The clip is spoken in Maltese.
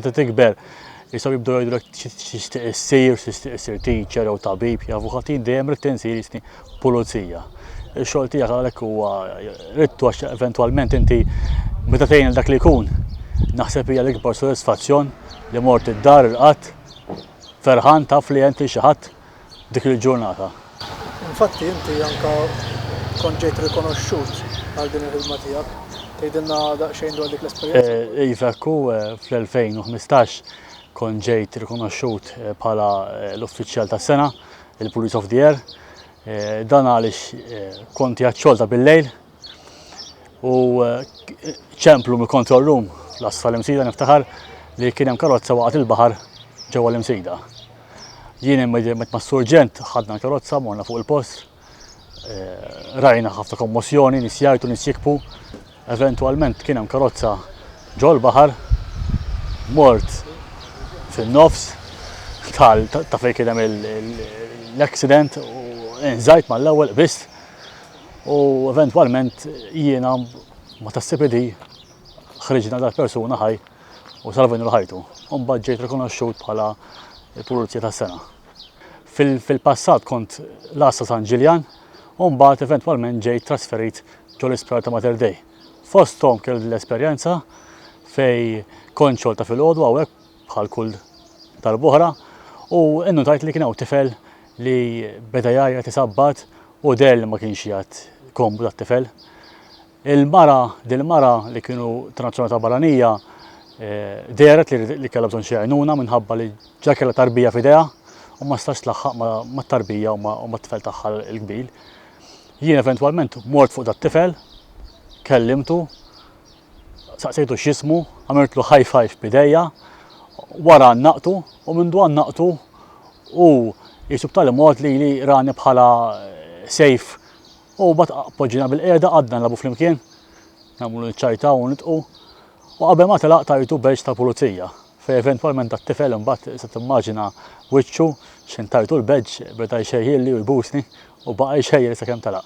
Meta tikber, jisaw jibdu jgħidu l-ek xistiq issir, xistiq issir teacher jew tabib, jew avukatin dejjem rrid insir jisni pulizija. Ix-xogħol tiegħek għalhekk huwa rittu għax eventwalment inti meta tgħin dak li jkun naħseb hija l-ikbar sodisfazzjon li mort id-dar il-qatt ferħan taf li għent li xi ħadd dik il-ġurnata. Infatti inti anke kont ġejt rikonoxxut għal din il-ħidma tiegħek. Tgħidilna daqsxejn dwar dik l-esperjenza? Iva hekk hu, fl-2015 kont ġejt rikonoxxut bħala l-uffiċjal tas-sena, il-Police of the Year. Dan għaliex kont qiegħed xogħolta bil-lejl u eh, ċemplu mill-control room l-asfal imsida niftaħar li kien hemm karozza waqgħet il-baħar ġewwa l-imsida. Jien immedjament ma' surġent ħadna l-karozza morna fuq il-post, eh, rajna ħafna kommosjoni, nisjajtu nisjikpu, eventualment kien hemm karozza ġol baħar mort fin-nofs tal ta' fejn kien hemm l-accident u nżajt mal-ewwel biss u eventwalment jiena ma tassib li ħriġna dal-persuna ħaj u salvajna l-ħajtu. Umbagħad ġejt rikonoxxut bħala il-Pulizija tas-Sena. Fil-passat kont l-Għassa San Ġiljan u mbagħad eventwalment ġejt trasferit ġol isptar ta' Mater Dei. Fosthom kelli l-esperjenza fej kont xolta fil-għodu għawek bħal kull tal-buħra u innutajt li kien hawn tifel li beda jgħajjat isabbat u deher li ma kienx jgħadd komdu tat-tifel. Il-mara, dil-mara li kienu ta' nazzjonalità barranija, eh, dehret li kellha bżonn xi għajnuna minħabba li ġa kellha tarbija f'idejha u ma stax tlaħħaq mat-tarbija u mat-tifel tagħha l-kbir. Jien eventwalment mort fuq dat-tifel, kellimtu, Saqsejtu x'jismu, għamiltlu high five b'idejha, wara għannaqtu u mindu għannaqtu hu qisu b'tali mod li li rani bħala sejf u bat poġġina bil-qiegħda qgħadna nilagħbu flimkien, nagħmlu niċċajtaw u nitqu u qabel ma telaq tajtu badge tal-pulizija fejn eventwalment dat-tifel imbagħad se timmaġina wiċċu x'ħin tajtu l-badge beda jxejjilli u jbusni u baqa' jxejjel sakemm telaq.